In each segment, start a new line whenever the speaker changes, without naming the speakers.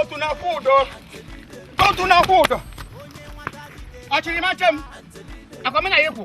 otu na-akwụ ụdọ otu na-akwụ ụdọ ọchịrị machie m akwamina ya ekwu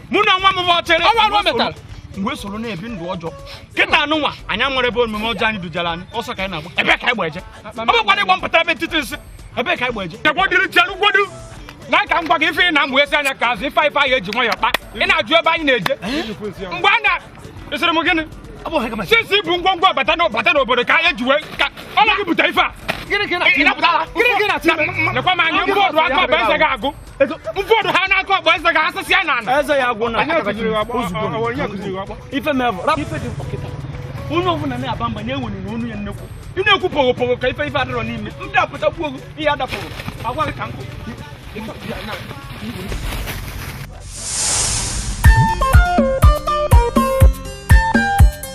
mụ na nwa m bụ ọchịrị ọwa ruo metara mgbe soro na-ebi ndụ ọjọọ kịtaa nụnwa anyị nwere ebe omume ọjọọ anyị dujara anyị ọsọ ka anyị na-agba ebe ka anyị gba eje ọ bụkwana ịgba mpụta ebe ntịtị nsị ebe ka anyị gba eje chekwadiri chelugodu na ka m gwa gị ife ị na mgbe esi anya ka azụ ife ife anyị eji nwayọ kpa ị na-ajụ ebe anyị na-eje mgbe a na esiri m gịnị sisi bụ ngwongwo bata bata n'obodo ka anyị ji wee ka ọ na-ebute ife a lekwa m anya mfọdụ aka ọba eze ga-agwụ mfọdụ ha na-akọ ọba eze ga asịsị ya na ana eze ya agwụ na ife mevụ rapụ ife dị mkpa kịta onye ọbụla na-aba mba na-enwere n'ọnụ ya nnekwu ị na-ekwu pogo pogo ka ife ife adịrọ n'ime ndị apụtakwu ọgụ ihe adapụrụ awa gị ka nkụ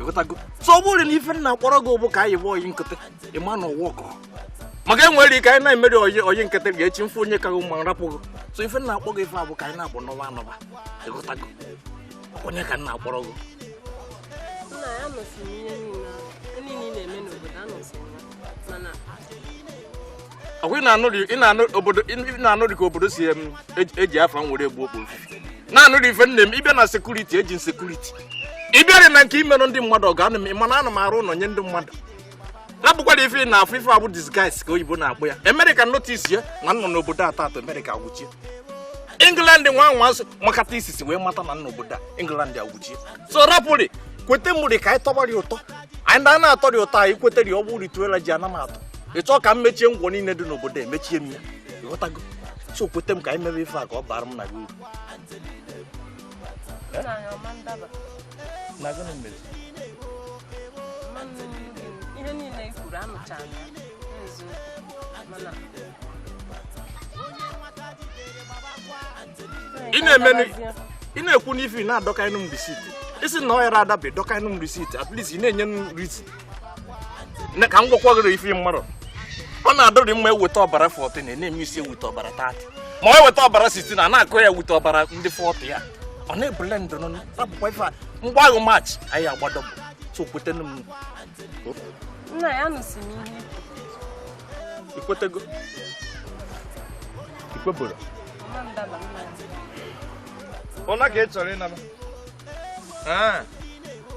ịghọtago so ọ bụrụ na ife m na-akpọrọ gị bụ ka anyị bụ oyi nkịtị ịma na ụwa ọkụ maka enwere ike anyị na-emeri oyi oyi nkịtị ga-echi mfe onye ka gị ma m rapụ gị so ife m na-akpọ gị ife a bụ ka anyị na-abụ nọba anọba ịghọtago ọ nya ka m na-akpọrọ gị ọkwa ị na-anụ dị- ị na-anụ obodo ị na-anụ dị ka obodo si em, eji- eji afa m were egbu okpo ofufe na-anụ dị ife nne m ịbịa na security eji security ịbịarị na nke imerụ ndị mmadụ ọgọ anọ m mana ana m arụ ụlọ nye ndị mmadụ na bụkwara ife ị na-afụ ife a bụ disguise ka oyibo na-akpọ ya American notice ya na m nọ n'obodo atọ atọ America agwụchie England nwa nwa nso makata isisi wee mata na m nọ n'obodo a England agwụchie so rapụrị kweta mụrị ka anyị tọgbara ya ụtọ anyị na a na-atọ dị ụtọ anyị kwetara ya ọ bụrụ ritual eji ana m atọ ị chọọ ka m mechie ngwọ niile dị n'obodo emechie m ya ịghọtago so kweta m ka anyị mebe ife a ka ọ bara m na gị uru na gịnị mere ihe niile i kwuru anụchara m ya mana ị na-emenụ ị na-ekwu n'ife ị na-adọkaịnụ m receipt ị sị na ọ yarọ adaba ịdọkaịnụ m receipt at least ị na-enye m reason ka m gwakwa gịrị ife mmadụ ọ na-adịrị mma eweta ọbara 14 na na-eme isi eweta ọbara 30 ma ọ eweta ọbara 16 na na-akụ ya eweta ọbara ndị 40 ya ọ na-ebule ndụ nọ rapụkwa ife a mgbe ahụ maachị anyị agbado bụ so kwetenu m
nna ya nụsị
m ihe ikwetego ikweberọ ụna ka ị chọrọ ịnaba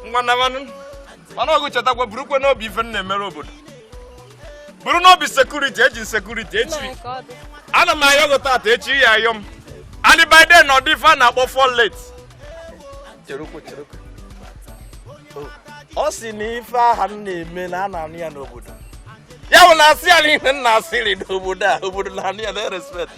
ngwa nabanụ mana ọgụ chetakwa burukwe n'obi ife m na-emere obodo buru n'obi security eji security echi ana m ayọ gị tata echi ị ya-ayọ m and by then ọdị ife a na-akpọ fọ late ọ si na ife aha m na-eme na a na-anụ ya n'obodo ya bụ na asị ya na ihe m na-asịrị n'obodo a obodo na-anụ ya na-erespect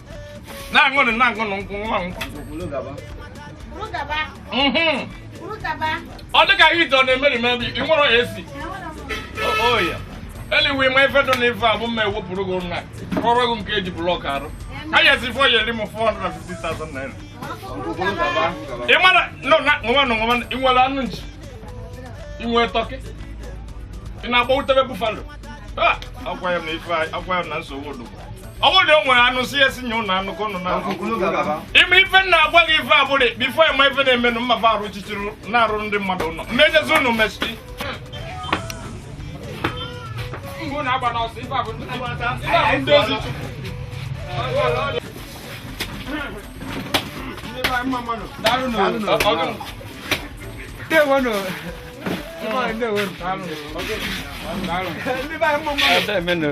na-aṅụnụ na-aṅụnụ nkwụ nwa nkwụ Mhm. ọ dị ka heat ọ na-emeri maybe ị nwere AC oya
anyway ma ife dị n'ife a bụ mma ewepụrụ gị nwa rụrụ gị nke eji block arụ anyasị fọ ya eri m 450,000 naira ị mara no na nwa na nwa ị nwere anụ nchi ị nwere turkey ị na-agba utebe buffalo Ah, agwa ya m na ife a- agwa ya m na nsogbu odogwu ọ bụrụ na o nwere anụ si esi nye ụnụ anụ ka ụnụ na ime ife m na-agwa gị ife abụrị before eme ife na-emenụ mmafe arụ chichiri na-arụ ndị mmadụ ụlọ mmejezi ụnụ mesi ndị be anyị mma mmadụ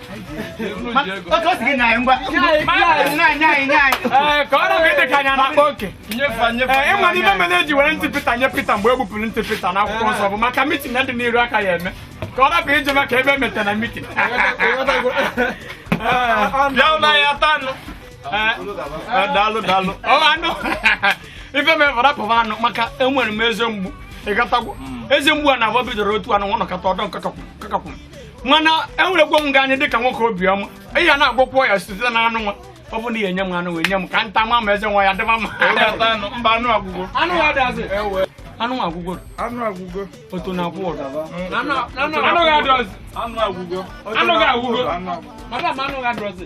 ị
ma na ife mere
eji were ntị Peter nye Peter mgbe e gbupụrụ ntị Peter n'akwụkwọ nsọ bụ maka meeting ya dị n'iru a ka ya-eme ka ọ rapụ ije maka ebe emeta na
meeting bịa ụlọ ya tanụ daalụ daalụ
anụ ife mefụ rapụba anụ maka enwere m eze mgbu ị ghọtagwo eze mgbu a na-agba bidoro otu anụ nwa nọkọta ọdọ nkakapụ mana ewerekwo m gị anya dịka nwoke obiọma ị ya na-agwọkwọ ya site na anụ nwa ọ bụ na i nye m anụ wee nye m ka m ta ma ma eze nwa ya dịba mma mba anụ
agwụgwọ anụ nwa adịazị
anụ nwa agwụgwọ anụ agwụgwọ otu na akwụ ụdọ anụ gị adịọzi anụ agwụgwọ anụ gị agwụgwọ madam anụ gị adịọzi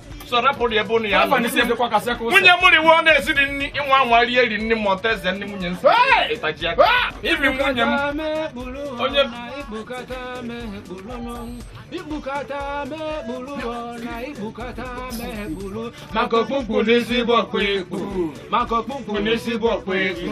so rapụrụ ebe ụnụ ya nwunye mụrụ iwu ọ na-esiri nri ị nwa anwa rie eri nri ma ọta eze nri nwunye nsọ ịtaji aka ibi nwunye m onye maka okpukpu n'ezigbo ọkpụ ekpu maka okpukpu n'ezigbo ọkpụ ekpu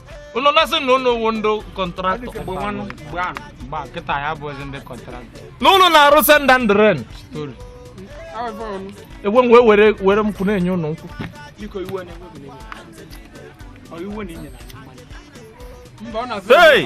unu na-asị na unu wụ ndị
contractor kịta ya bụ ezi ndị contractor na unu na-arụ
send and rent story egwe m wee were were nkwụ na-enye unu
nkwụ Hey!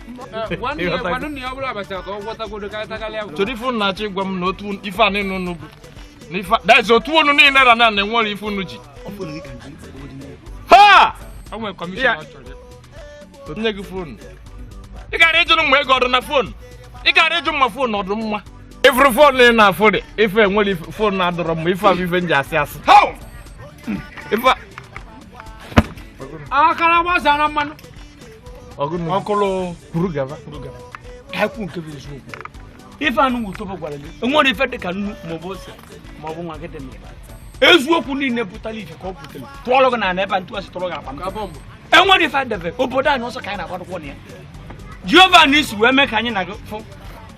chọrọ ife unu na-achọ ịgwa
m na otu ife a niile unu bụ that is otu unu niile ra na na enwere ife unu ji ha
nye gị fonu
ị gara ịjụrụ mma ego ọdụ na fonu ị gara ịjụ mma fonu ọdụ mma ifuru fonu ị na-afụ dị ife enwere fonu na-adọrọ mma ife a bụ ife m ji asị asị
akara gbazara mmanụ
ọkụlụ kwuru gaba ka
ekwu nke bụ eziokwu ife anụ wutobo gwara gị enwere ife dị ka nnu maọbụ ose maọbụ nwa gị dị n'ụba eziokwu niile pụtara ife ka ọ pụtara tụọlụ gị na ala ebe a ntụasị tụrụ gị akpa m enwere ife adebe obodo anyị ọsọ ka anyị na-agbadokwọ na ya Jehova Nissi wee mee ka anyị na gị fụ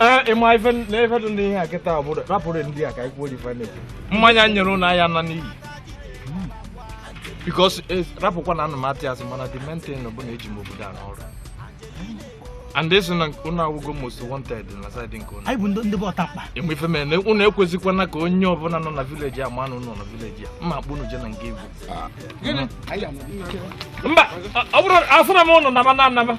ee ịma ife na ife dị n'ihe a kịta obodo rapụrụ ndị a ka anyị kwuo dị ife na-eji mmanya nyere ụlọ ahịa na n'iyi because rapụkwa na ana m atụ asị mana the main thing bụ na eji m obodo a n'ọrụ and ịsị na ụnụ awụgo most wanted na side nke ụnụ anyị bụ ndị ndị bụ
ọtakpa enwe ife mere na
ụnụ ekwezikwana ka onye ọbụla nọ na village a ma na ụnụ nọ na village a mma akpụ ụnụ je na nke igwe mba ọ bụrụ afụna m ụnụ naba na anaba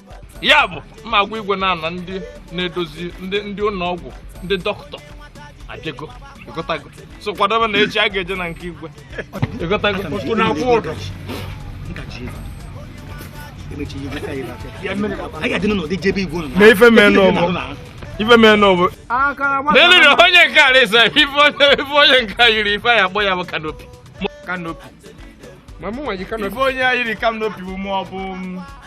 ya bụ mma agwa igwe na-ana ndị na-edozi ndị ndị ụlọ ọgwụ ndị dọkịta ajego ịgotago so kwadebe na echi a ga-eje na nke igwe ịgotago Unu na-akwụ ụdọ. na ife mee n'ọbụ ife mee n'ọbụ n'elu na onye nke a resa ife onye ife onye nke a yiri ife anyị akpọ ya bụ kanopi kanopi ma mụ nwa yi kanopi ife onye a yiri kanopi bụ ma ọ bụ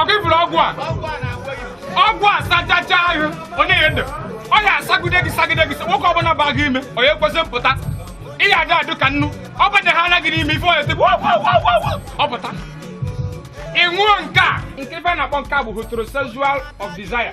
okay ịfụrụ ọgwụ
a ọgwụ a sachacha ahụ onye ya ndụ ọ ya asagide gị sagide gị nwoke ọbụla ba gị ime ọ ya ekwezi mpụta ị ya adị ụtọ ka nnu ọ bụ na ha anaghị n'ime ife onye tịbụ ọ pụta ị ṅụọ nke a nke ife a na-akpọ nke a bụ heterosexual of desire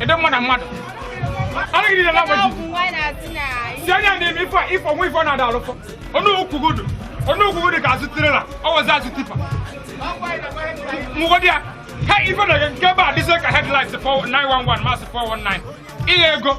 ịdị mma na mmadụ anaghị niile na agbaji si anya na-eme ife ife ọnwa ife ọ na-ada alụfọ ọnụ okwugodo ọnụ okwugodo ka azụ trailer ọ wezi azụ tipper mụgodị ya ha ife na nke ebe a dịzie ka headlight 911 masị 419 ihe ego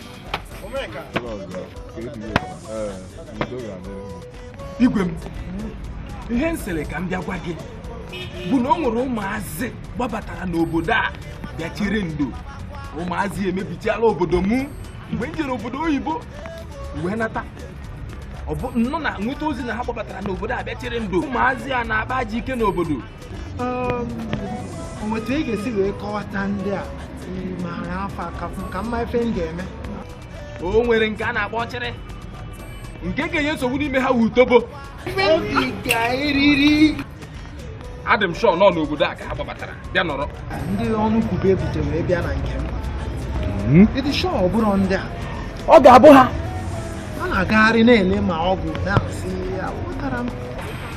igwe m ihe m sịrị ka m bịa gwa gị bụ na o nwere ụmụazị gbabatara n'obodo a bịa chere ndo ụmụazị emebichiala obodo mụ mgbe m jere obodo oyibo wee nata ọ bụ nnọọ na nweta ozi na ha gbabatara n'obodo a bịa chere ndo ụmụazị a na-akpazi ike n'obodo
otu ị ga-esi wee kọwata ndị a maara afa ha ka mma ife m ga-eme o
nwere nke a na-akpọ ọchịrị nke ga-enye nsogbu n'ime ha wu utobo adị m shọ na ọ n'obodo a ka ha gbabatara bịa nọrọ ndị
ọnụ kwube ebute wee bịa na nke m hmm? ịdị shọ ọ bụrụ ndị a ọ ga-abụ ha
a na-agagharị
na-ele ma ọ bụ na-asị ya pụtara m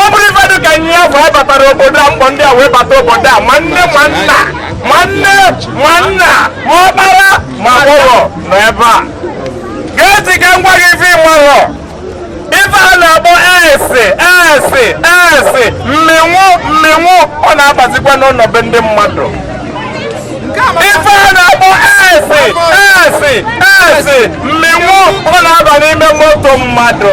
ọ bụrụ ife dị ka nye ya bụ abatara obodo a mkpọ ndị a wee bata obodo a ma nne ma nna ma ọkpara ma agbọghọ nọ ebe a gee ntị ka m gwa gị ife ị marọ ife a na-akpọ SSS mmenwu mmenwu ọ na-abazikwa n'ụlọ be ndị mmadụ ife a na-akpọ SSS mmenwu ọ na-aba n'ime moto mmadụ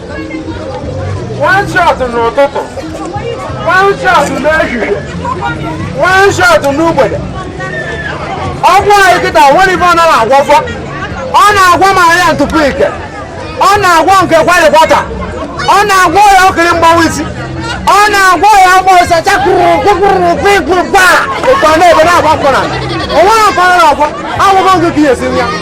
one shot n'ụtụtụ one shot n'ehihie one shot n'ugbede ọgwụ anyị kịta nwere ife ọ na-agwọga ọ na-agwọ ma ya ntụpụ ike ọ na-agwọ nke kwalikwata ọ na-agwọ ya okiri mgbawa isi ọ na-agwọ ya ọgbọ ọsọ chakụrụ kwụkwụrụ kwụkwụ gbaa ọkọ n'ebe na-agba ọkụ na onwe ọkọ na-agwọ agwụgwọ nke ka ihe si ya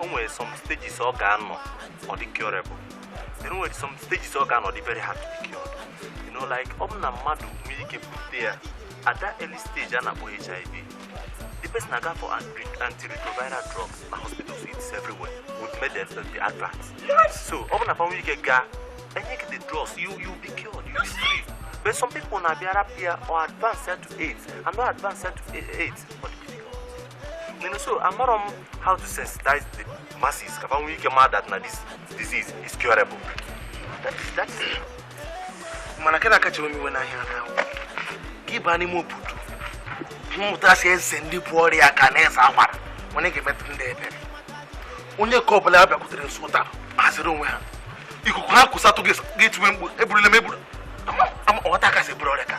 o nwere some stages ọ ga-anọ ọ dị curable o nwere some stages ọ ga-anọ ọ dị very hard to be cured you know like ọ bụ na mmadụ nwere ike bute ya at that early stage a na-akpọ hiv the person aga for anti- antiretroviral drug na hospitals it's everywhere with medicine that be advance so ọ bụ na fa nwere ike gaa e nye gị the drugs you you'll be cured you'll be free but some people na-abịara pịa ọ advance ya to aids and not advance ya to aids but You know, so I'm not on how to sensitize the masses. fa nwee ike mata na this disease is curable. That is that is. Mana nke na-akacha ewe m iwe na ya na. Kiba ni mo putu. Muta se sendi pori ya kanesa amar. Wani ke metu nde ebe. Onye ka ọbụla ya bịakwutere nso taa haziri onwe ha ikuku ha kwụsatụ ga-etuwe mgbu eburule m eburu ọghọta kasị bụrụ ọrịa ka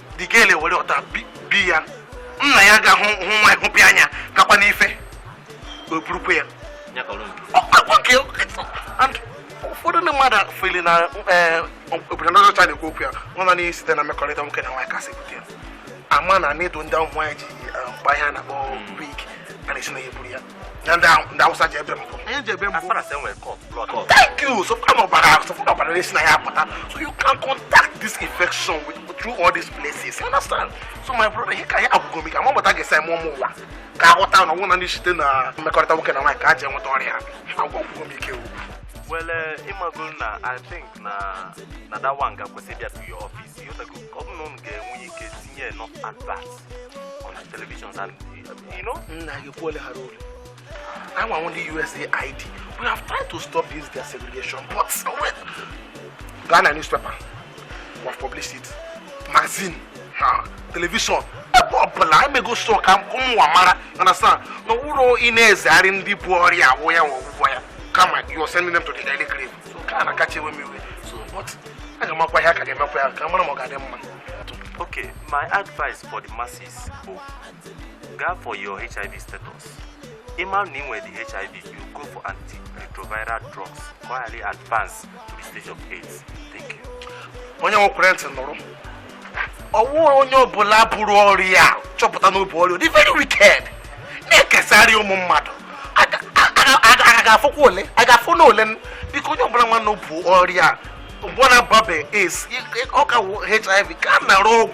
digele were ọta bi ya nna ya ga hụ nwa hụpịa anya kakwa n'ife o burukwa ya ụfọdụ ndị mmadụ feel na eh, obodo ndị ọcha na-ekwu okwu ya nwa na naanị site na mmekọrịta nwoke na nwaanyị ka e si ebute ya ama na needle ndị ụmụ nwaanyị ji eh, akpa ihe a na-akpọ wig a na-esi na ya eburu ya na ndị ahụ- ndị Awụsa ji ebe mbọ anyị ji ebe mbọ thank you so far ọbara ahụ so far ọbara na-esi na ya apụta so you can contact this infection with, through all these places you understand so my brother ihe ka anyị agwụgo m ike ama m otu a ga-esi eme ụmụ ụwa ka ha ghọta na ọ wụghị nanị site na mmekọrịta nwoke na nwaanyị ka e ji enweta ọrịa a agwụgo m ike o Well, uh, ịmago na I think na na that one ga-akwesị bịa to your office. Ịghọtago? Ka ọ bụ na unu ga-enwe ike tinye enough advert on the televisions and nna gị kwuole ha
n'olu anyịnwa wụ ndị USAID we have tried to stop this their segregation but wait gaa na newspaper we have published it magazine ha television ebe ọbụla anyị mego sọ ka ụmụ ụwa mara understand na ụlọ ị na-ezegharị ndị bu ọrịa awụ ya wụ ọgwụgwọ ya kama you are sending them to the early grave so nke a na-akacha ewe m iwe so but a ga-emekwa ya ka a ga-emekwa ya ka a mara ma ọ ga-adị mma okay
my advice for the masses bụ Gaa for your HIV status. Ị ma na ị nwere the HIV, you go for antiretroviral drugs ka ọ ghara advance to the stage of AIDS. Thank you. onye nwekwere
ntị nụrụ ọ wụrụ onye ọbụla buru ọrịa a chọpụta na o bu ọrịa dị very wicked na-ekesarị ụmụ mmadụ Aga- aga- aga- aga ga-afọkwa ole a ga-afọ na ole biko onye ọbụla ma na o bu ọrịa mgbe ọ na-ababe AIDS ọ ka wụ HIV gaa nara ọgwụ